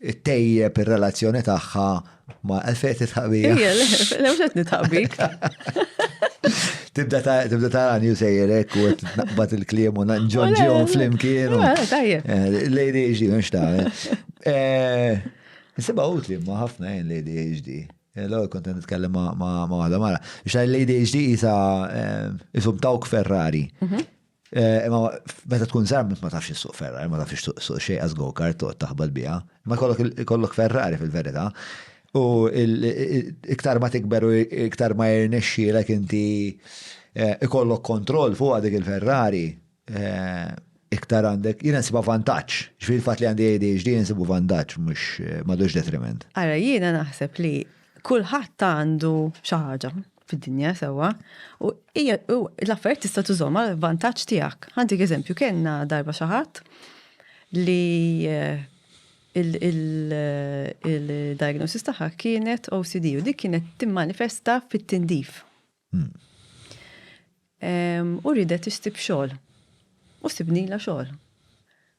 Ittejjeb ir-relazzjoni tagħha ma' għalfejn titħaq bija. Ejja, le, le mhux qed nitħaq bik. Tibda tarani u sejjerek u naqbad il-kliem u nġonġihom flimkien. Tajjeb. Eh, Lady HD, mhux ta' eh, Nsiba utli ma ħafna jien Lady HD. Eh, l-għol konten nitkellem ma' għada mara. Xa Lady HD jisa jisum tawk Ferrari. Mhm. Eh, imma meta tkun żgħar ma tafx issuq Ferrari, ma tafx suq xejn għaż go-kart toqgħod taħbad biha. Ma kollok Ferrari fil-verità. U iktar ma tikber u iktar ma jirnexxielek inti eh, ikollok kontroll fuq dik il-Ferrari eh, iktar għandek, jina nsiba vantaġġ. Ġifieri fatt li għandi ADHD nsibu vantaġġ mhux madux detriment. Ara jiena naħseb li kulħadd għandu xi ħaġa. fid-dinja sewwa u hija l-affarijiet tista' tużhom għal vantaġġ tiegħek. Għandik eżempju kellna darba xi ħadd li eh, il-diagnosis tagħha kienet OCD u dik kienet timmanifesta fit-tindif. Hmm. U ridet issib xogħol. U sibnila xogħol.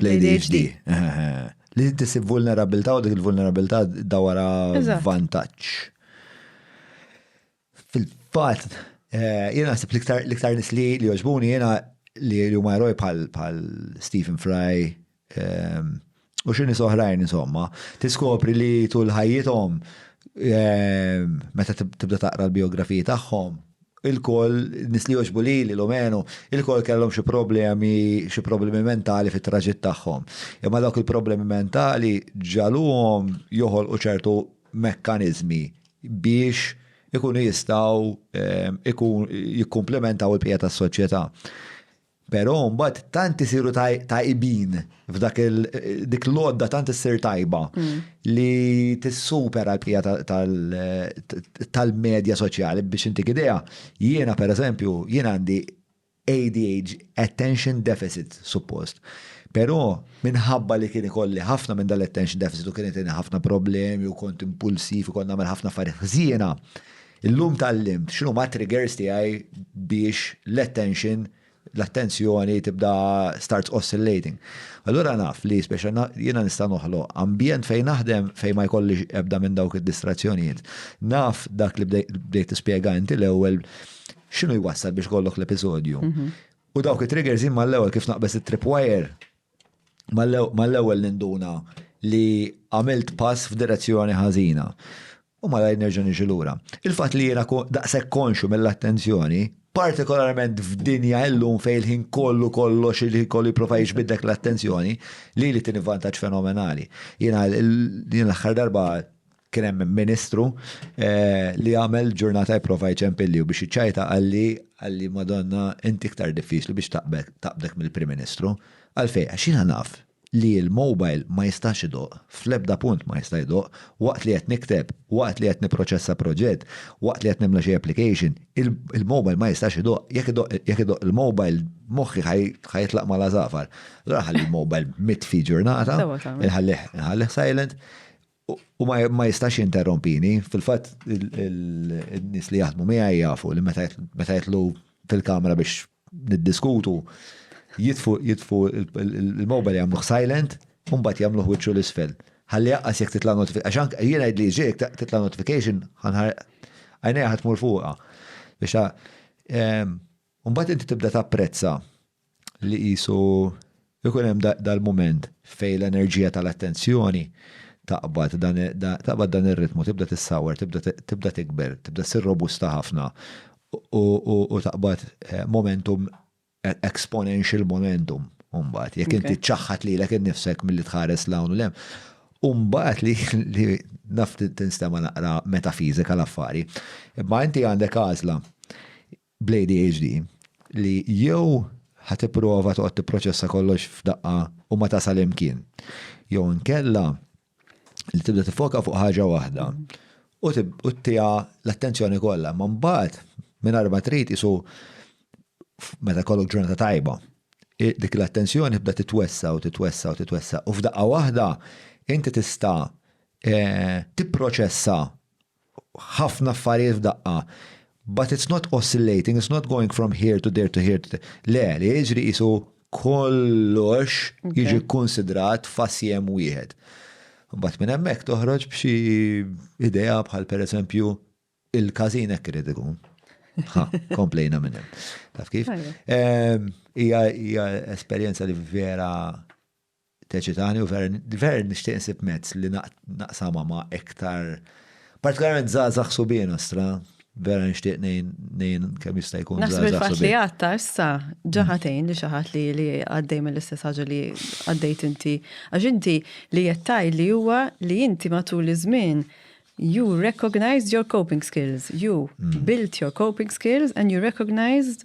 L-ADHD. Li tisib vulnerabilità u dik il-vulnerabilità dawara vantaġġ. Fil-fatt, eh, jiena naħseb l-iktar nis li li joġbuni jiena li huma eroj bħal Stephen Fry ehm, u xi nies oħrajn insomma, tiskopri li tul ħajjithom ehm, meta tibda taqra l-biografiji tagħhom, Ilkoll, nies li jogħġbu lili, l-umenu, ilkoll kellhom xi problemi, xi problemi mentali fit-traġitt tagħhom. Imma dawk il-problemi mentali ġagħluhom joħolqu ċertu mekkaniżmi biex ikunu jistgħu jikkumplimentaw il-bqija tas-soċjetà. Pero mbagħad tant isiru tajbin f'dak dik l-għodda tant issir tajba li tissupera l-bqija tal-medja soċjali biex intik idea. Jiena pereżempju, jien għandi ADH, attention deficit suppost. Pero minħabba li kien ikolli ħafna minn dal-attention deficit u kien ħafna problemi u kont impulsiv u kont nagħmel ħafna affarijiet ħżiena, Illum tgħallimt x'inhuma triggers tiegħi biex l-attention l-attenzjoni tibda starts oscillating. Allura naf li speċa jiena nista' noħloq ambjent fejn naħdem fejn ma jkollix ebda minn dawk id-distrazzjonijiet. Naf dak li bdejt tispjega inti l-ewwel x'inhu jwassal biex kollok l-episodju. Mhm. U dawk it-triggers imma l-ewwel kif naqbeż it-tripwire mal-ewwel ninduna li għamilt pass f'direzzjoni ħażina. U malajr nerġa' niġi lura. Il-fatt li jiena daqshekk konxju mill-attenzjoni, partikolarment f'dinja illum fejn il-ħin kollu kollox irid kollu jipprova jiġbid dak l-attenzjoni, lili tieni vantaġġ fenomenali. Jiena l-aħħar darba kien hemm ministru li għamel ġurnata jipprova jċempilli u biex jiċċajta qalli, qalli Madonna inti iktar diffiċli biex taqbdek mill-Prim Ministru. Għalfejn? Għax jiena naf li l-mobile ma jistax idoqq, fl-ebda punt ma jista' jdoqq, waqt li qed nikteb, waqt li qed nipproċessa proġett, waqt li qed nimla xi application, il-mobile ma jistax idoqq, jekk idoqq jekk idoqq il-mobile moħħi ħa ħa jitlaq mal-għasafar. Allura nħalli l-mobile mitfi ġurnata, inħallih inħallih silent, u ma ma jistax jinterrompini, fil-fatt in-nies li jaħdmu miegħi jafu li meta meta jidħlu fil-kamra biex niddiskutu, jitfu jitfu il-mobile jagħmluh silent, u mbagħad jagħmluh wiċċu l-isfel. Ħalli jaqqas jekk titla' notification. Għax anke jien għidli ġejk titla' notification ħanħar għajnejha ħadd tmur fuqha. Biex ehm, u mbagħad inti tibda tapprezza li qisu Ikun hemm dal-mument fejn l-enerġija tal-attenzjoni taqbad dan ir-ritmu, tibda tissawwar, tibda tikber, tibda ssir robusta ħafna u taqbad momentum, exponential momentum mbagħad, jekk inti ċċaħħad lilek innifsek milli tħares 'l hawn u 'l hemm. U mbagħad li naf tinstema' naqra metafiżika l-affari, imma inti għandek għażla, bl-ADHD li jew ħa tipprova toqgħod tipproċessa kollox f'daqqa u ma tasal imkien, jew inkella li tibda tiffoka fuq ħaġa waħda u ttiha l-attenzjoni kollha, imma mbagħad mingħajr ma trid qisu meta jkollok ġurnata tajba, dik l-attenzjoni tibda titwessa' u titwessa' u titwessa' u f'daqqa waħda inti tista' tipproċessa ħafna affarijiet f'daqqa. But it's not oscillating, it's not going from here to there to here to there. Le, li jiġri jisu kollox jiġi konsidrat fasjem wieħed. Bat minn hemmhekk toħroġ b'xi idea bħal pereżempju il-każin hekk irid ikun. Ha, komplejna minn hemm. Taf kif? Hija esperjenza li vera teċitani u vera nixtieq insib mezz li naqsamha ma' iktar partikolarment żgħażagħ subien ostra, vera nixtieq ngħin kemm jista' jkun żgħażagħ. Naħseb il-fatt li għatta issa ġaħatejn li xi ħadd li għaddej mill-istess ħaġa li għaddejt inti. Għax inti li jettaj li huwa li inti matul iż-żmien you recognized your coping skills, you mm. built your coping skills and you recognized